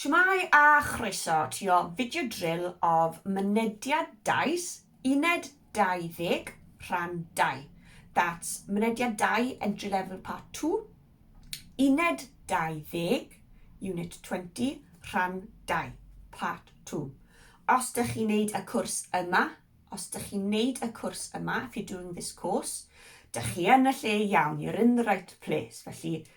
Shwmae a chroeso ti o video drill of mynediad dais, uned 20, rhan 2. That's mynediad 2, entry level part 2, uned 20, unit 20, rhan 2, part 2. Os dych chi'n neud y cwrs yma, os dych chi'n neud y cwrs yma, if you're doing this course, dych chi yn y lle iawn, you're in the right place. Felly,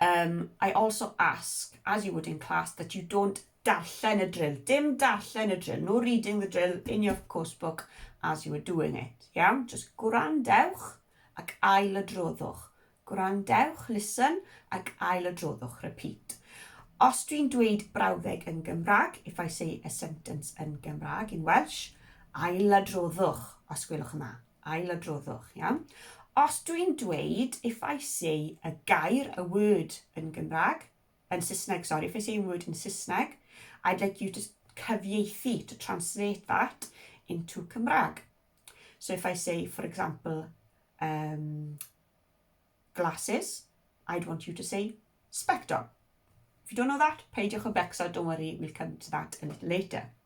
Yym, I also ask, as you would in class, that you don't darllen y drill. Dim darllen y drill, no reading the drill in your course book as you were doing it. Iawn, just gwrandewch ac ail y droddwch. Gwrandewch, listen, ac ail y droddwch, repeat. Os dwi'n dweud brawddeg yn Gymraeg, if I say a sentence yn Gymraeg, in Welsh, ail y droddwch, os gwelwch yn dda. ailadroddwch, iawn? Os dwi'n dweud, if I say a gair, a word yn Gymraeg, yn Saesneg, sorry, if I say a word in Saesneg, I'd like you to cyfieithu, to translate that into Cymraeg. So if I say, for example, um, glasses, I'd want you to say spectol. If you don't know that, peidiwch o becso, don't worry, we'll come to that a little later.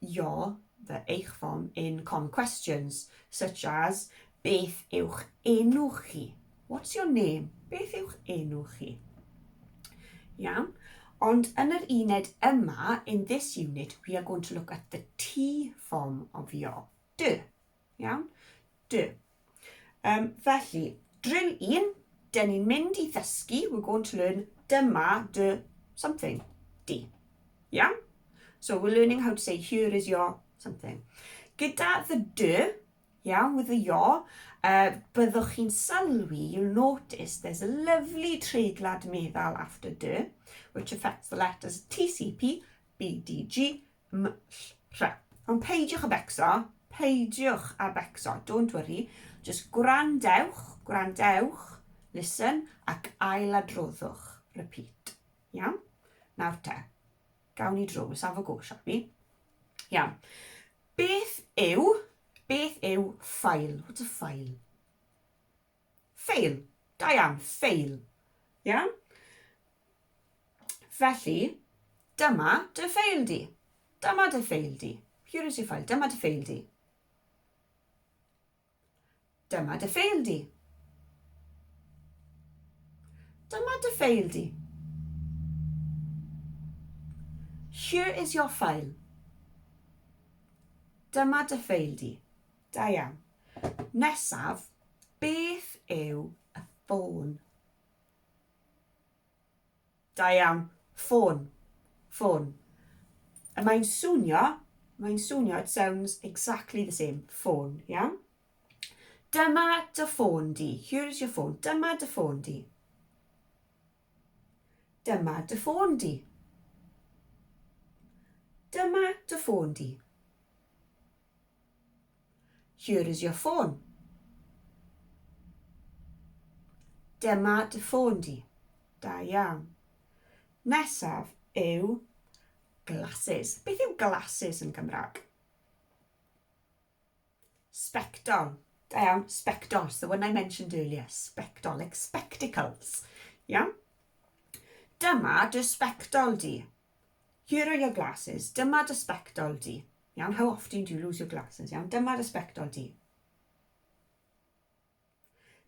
your, the eich form in common questions, such as, beth yw'ch enw chi? What's your name? Beth yw'ch enw chi? Iawn. Ond yn yr uned yma, in this unit, we are going to look at the T form of your. Do. Iawn? Do. Um, felly, drill un, dyn ni'n mynd i ddysgu, we're going to learn dyma dy something, di. Iawn? So we're learning how to say here is your something. Gyda the dy, iawn, with the your, uh, byddwch chi'n sylwi, you'll notice there's a lovely treiglad meddal after dy, which affects the letters TCP, BDG, mlh. Ond peidiwch â becso, peidiwch â becso, don't worry, jyst gwrandewch, gwrandewch, listen, ac ailadroddwch, repeat. Iawn? Nawr te, gawn ni drwy, let's have a go, shall we? Iawn. Beth yw, beth yw ffail? What's a ffail? Fail. Da iawn. Fail. Iawn? Felly, dyma dy ffeil di. Dyma dy ffeil di. Here is your file. Dyma dy ffeil di. Dyma dy ffeil di. Dyma dy ffeil di. Here is your file. Dyma dy ffeil di. Da iawn. Nesaf, beth yw y ffôn? Da iawn. Ffôn. Ffôn. Y mae'n swnio, mae'n swnio, it sounds exactly the same. Ffôn, iawn? Dyma dy ffôn di. Here is your phone. Dyma dy ffôn di. Dyma dy ffôn di. Dyma dy ffôn di. Here is your phone. Dyma dy ffôn di. Da iawn. Nesaf yw glasses. Beth yw glasses yn Gymraeg? Spectol. Da iawn, spectols, the one I mentioned earlier, spectol, like spectacles. Iawn? Dyma dy spectol di. Here are your glasses. Dyma dy sbectol di. Iawn, how often do you lose your glasses? Iawn, dyma dy sbectol di.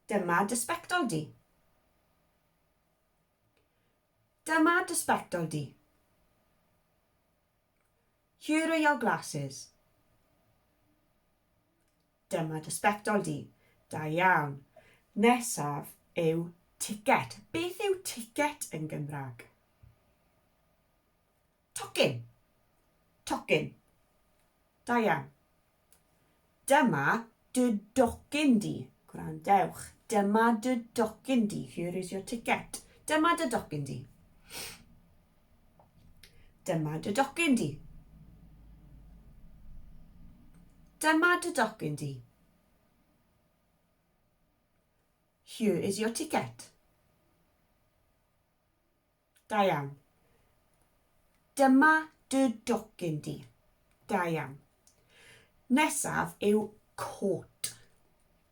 Dyma dy sbectol di. Dyma dy sbectol di. Here are your glasses. Dyma dy sbectol di. Da iawn. Nesaf yw ticket. Beth yw ticket yn Gymraeg? Tocyn. Tocyn. Da iawn. Dyma dy docyn di. Gwrandewch. Dyma dy docyn di. Here is your ticket. Dyma dy docyn di. Dyma dy docyn di. Dyma dy docyn di. Here is your ticket. Da iawn. Dyma dy docyn di. Da iawn. Nesaf yw coat.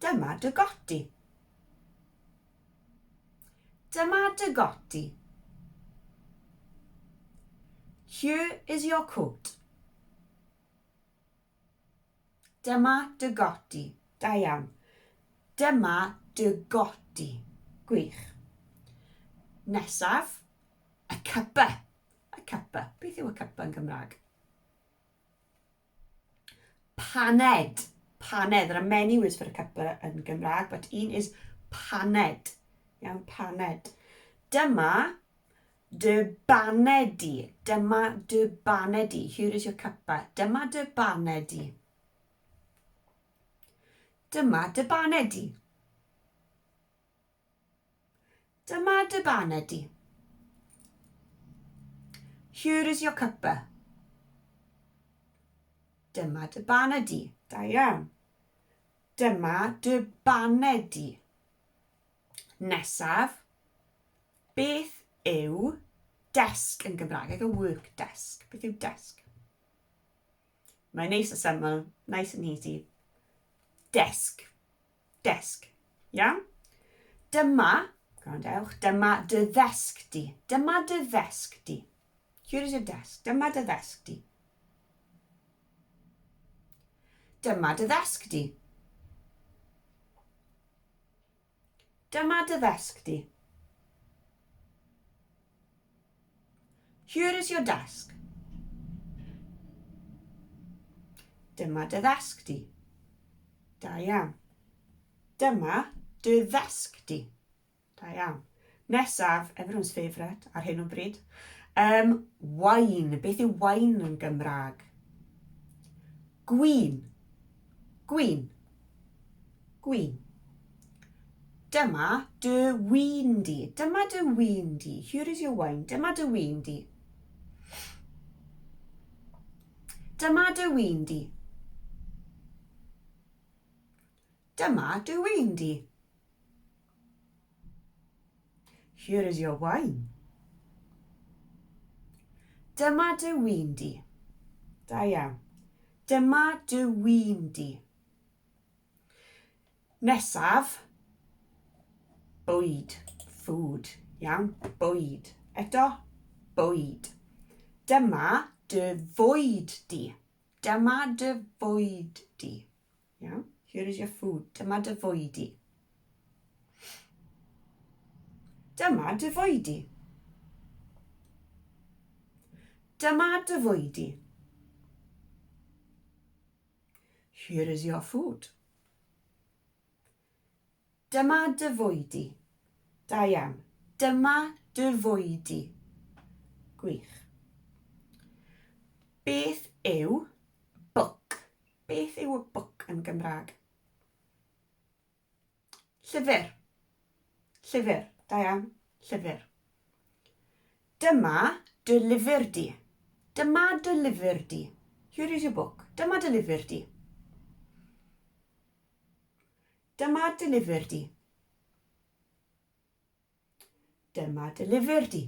Dyma dy godi. Dyma dy godi. Here is your coat. Dyma dy godi. Da iawn. Dyma dy godi. Gwych. Nesaf, y cypa. Y cypa. Beth yw y cypa yn Gymraeg? Paned. Paned. There are many words for a cuppa yn Gymraeg, but un is paned. Iawn, paned. Dyma dy baned di. Dyma dy baned di. Here is your cuppa. Dyma dy baned di. Dyma dy baned di. Dyma dy baned di. Here is your cuppa. Dyma dy baned di. Da iawn. Dyma dy baned di. Nesaf, beth yw desk yn Gymraeg? Like a work desk. Beth yw desk? Mae'n neis a syml, nice and easy. Desk. Desk. Iawn? Dyma, gwrandewch, dyma dy ddesg di. Dyma dy ddesg di. Here is your desk. Dyma dy ddesg di. Dyma dy ddesg di. Dyma dy ddesg di. Here is your desk. Dyma dy ddesg di. Da iawn. Dyma dy ddesg di. Da iawn. Nesaf, everyone's favourite ar hyn o bryd. Um, wine. Beth yw wine yn Gymraeg? Gwin, gwin, gwin. Dyma dy win di. Dyma dy win di. Here is your wine. Dyma dy win di. Dyma dy win di. Dyma dy win di. Here is your wine. Dyma dy win di. Da iawn. Dyma dy win di. Nesaf, bwyd, food, iawn, bwyd. Eto, bwyd. Dyma dy fwyd di. Dyma dy fwyd di. Yeah, here is your food. Dyma dy fwyd di. Dyma dy fwyd di. Dyma dy fwyd di. Here is your food. Dyma dy fwyd di. Da iawn. Dyma dy fwyd di. Gwych. Beth yw book? Beth yw a book yn Gymraeg? Llyfr. Llyfr. Da iawn. Llyfr. Dyma dy lyfr di. Dyma dy lyfr di. Here is your book. Dyma dy lyfr di. Dyma dy lyfr di. Dyma dy lyfr di.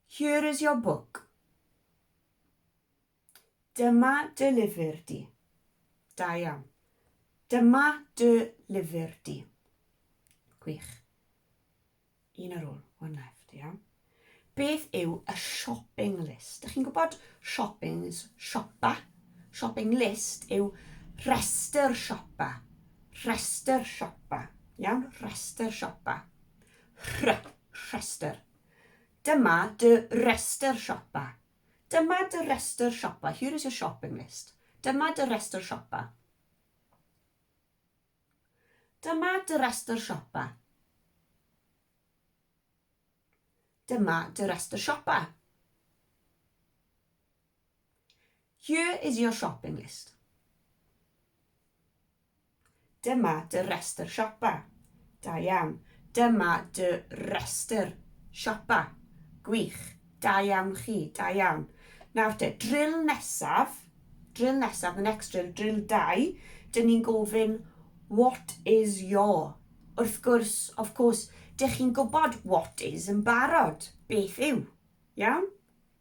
Here is your book. Dyma dy lyfr di. Da iawn. Dyma dy lyfr di. Gwych. Un ar ôl, one left, iawn. Beth yw y shopping list? Dych chi'n gwybod shopping is siopa. Shopping list yw rhestr siopa. Rhestr siopa. Iawn, rhestr siopa. Rh, rhestr. Dyma dy restr siopa. Dyma dy restr siopa. Here is your shopping list. Dyma dy restr siopa. Dyma dy restr siopa. Dyma dy restr siopa. Here is your shopping list. Dyma dy restr siopa. Da iawn. Dyma dy restr siopa. Gwych. Da iawn chi. Da iawn. Nawr te, drill nesaf. Drill nesaf, the next drill, drill 2. Dyn ni'n gofyn, what is your? Wrth gwrs, of course, dych chi'n gwybod what is yn barod. Beth yw? Iawn?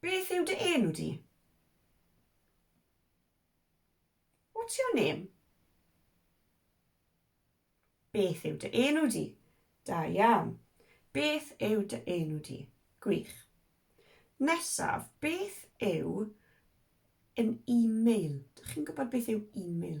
Beth yw dy enw di? What's your name? Beth yw dy enw di? Da iawn. Beth yw dy enw di? Gwych. Nesaf, beth yw yn e-mail? Dych chi'n gwybod beth yw e-mail?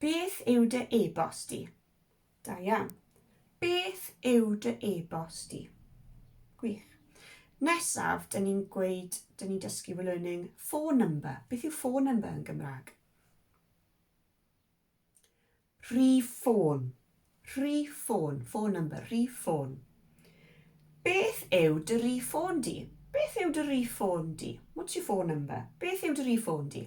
Beth yw dy e-bost di? Da iawn. Beth yw dy e-bost di? Gwych. Nesaf, dyn ni'n gweud, dyn ni'n dysgu we're learning phone number. Beth yw phone number yn Gymraeg? Rhif ffôn. Rhif ffôn. Phone number. Rhif ffôn. Beth yw dy rhif ffôn di? Beth yw dy rhif ffôn di? What's your phone number? Beth yw dy rhif ffôn di?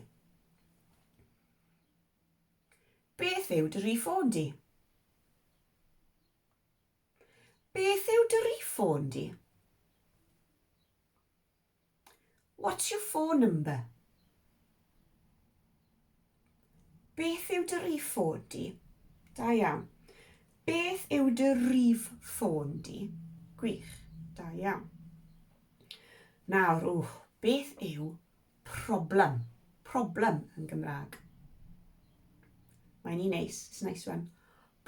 Beth yw dy rif ffôn di? Beth yw dy rif ffôn di? What's your phone number? Beth yw dy rif ffôn di? Da iawn. Beth yw dy rif ffôn di? Gwych. Da iawn. Nawr, wch, beth yw Problem. Problem yn Gymraeg. Mae'n un neis. It's nice one.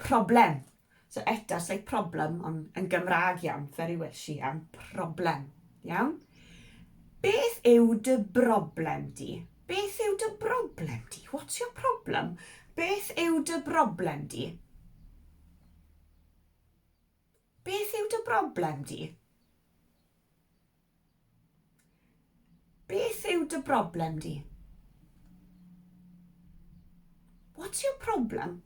Problem. So eto, it's like problem, ond yn Gymraeg iawn, very Welsh iawn. Problem. Iawn? Beth yw dy broblem di? Beth yw dy broblem di? What's your problem? Beth yw dy broblem di? Beth yw dy broblem di? Beth yw dy broblem di? What's your problem?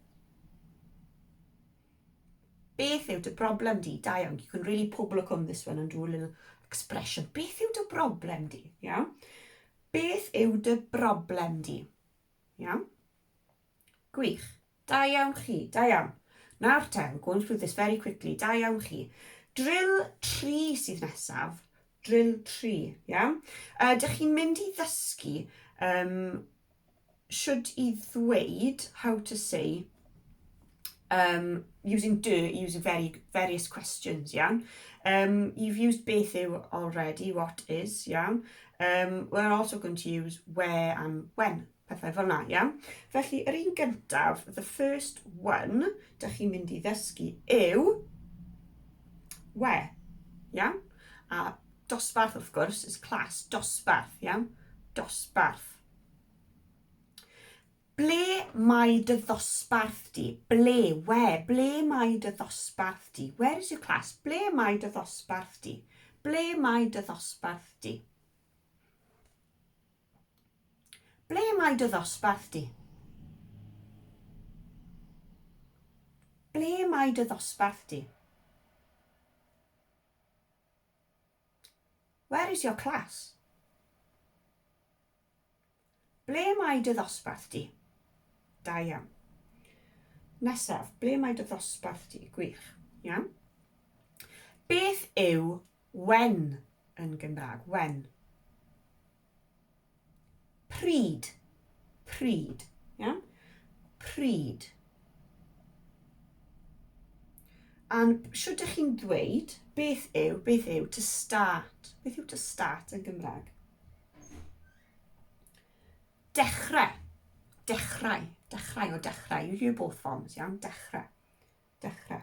Beth yw dy broblem di? Da iawn. You can really pobl o cwm this one and do a little expression. Beth yw dy broblem di? Iawn. Beth yw dy broblem di? Iawn. Gwych. Da iawn chi. Da iawn. Nawr te, we're going through this very quickly. Da iawn chi. Drill 3 sydd nesaf. Drill 3, iawn? Uh, dych chi'n mynd i ddysgu um, should i ddweud how to say um, using do, using very, various questions, iawn? Um, you've used beth yw already, what is, iawn? Um, we're also going to use where and when, pethau fel yna, iawn? Felly, yr un gyntaf, the first one, dych chi'n mynd i ddysgu yw where, iawn? A dosbarth, wrth gwrs, is class, dosbarth, iawn? Dosbarth. Ble mae dy ddosbarth di? Ble, where, ble mae dy ddosbarth di? Where is your class? Ble mae dy ddosbarth di? Ble mae dy ddosbarth di? Ble mae dy ddosbarth di? Ble mae dy ddosbarth di? Where is your class? Ble mae dy ddosbarth di? Da iawn. Nesaf, ble mae dy ddosbarth di? Gwych. Iawn. Beth yw When yn Gymraeg, when. Pryd, pryd, iawn? Pryd. A'n siwr dych chi'n dweud beth yw, beth yw to start? Beth yw to start yn Gymraeg? Dechrau. Dechrau. Dechrau o dechrau. You hear both forms, iawn? Dechrau. Dechrau.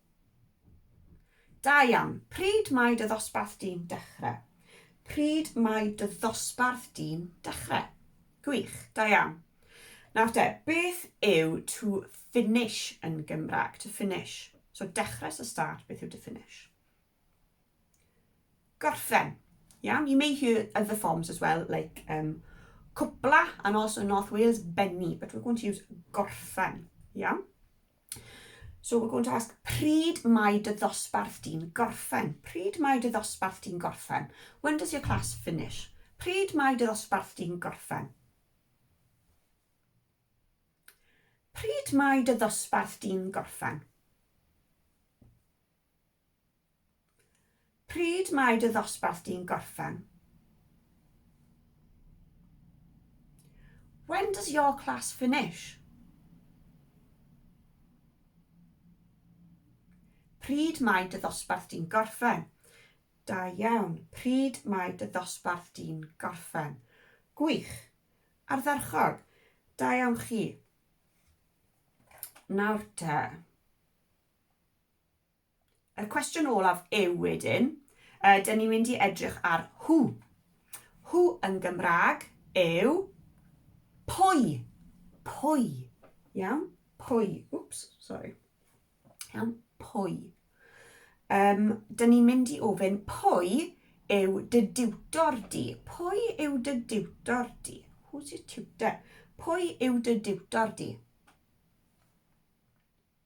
Da iawn. Pryd mae dy ddosbarth di'n dechre? Pryd mae dy ddosbarth di'n dechre? Gwych. Da iawn. Nawr te, beth yw to finish yn Gymraeg? To finish. So dechre so start, beth yw to finish? Gorffen. Iawn, you may hear other forms as well, like um, cwpla and also North Wales benni, but we're going to use gorffen. Iawn? So we're going to ask, pryd mae dy ddosbarth di'n gorffen? Pryd mae dy ddosbarth di'n gorffen? When does your class finish? Pryd mae dy ddosbarth di'n gorffen? Pryd mae dy ddosbarth di'n gorffen? Pryd mae dy ddosbarth di'n gorffen? When does your class finish? Pryd mae dy ddosbarth di'n gorffen? Da iawn. Pryd mae dy ddosbarth di'n gorffen? Gwych. Ardderchog. Da iawn chi. Nawr te. Y cwestiwn olaf yw wedyn, uh, dyn ni'n mynd i edrych ar who. Who yn Gymraeg yw pwy. Pwy. Iawn? Pwy. Wps, sorry. Iawn? Pwy. Um, dyn ni'n mynd i ofyn pwy yw dy diwtor di? Pwy yw dy diwtor di? Who's your tutor? Pwy yw dy diwtor di?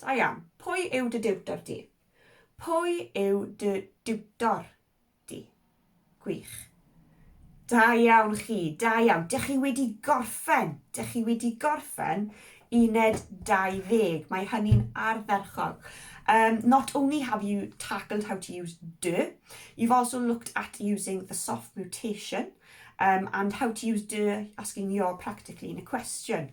Da iawn. Pwy yw dy diwtor di? Pwy yw dy diwtor di? Gwych. Da iawn chi, da iawn. Dych chi wedi gorffen, dych chi wedi gorffen uned 20. Mae hynny'n ardderchog. Um, not only have you tackled how to use do, you've also looked at using the soft mutation um, and how to use do asking your practically in a question.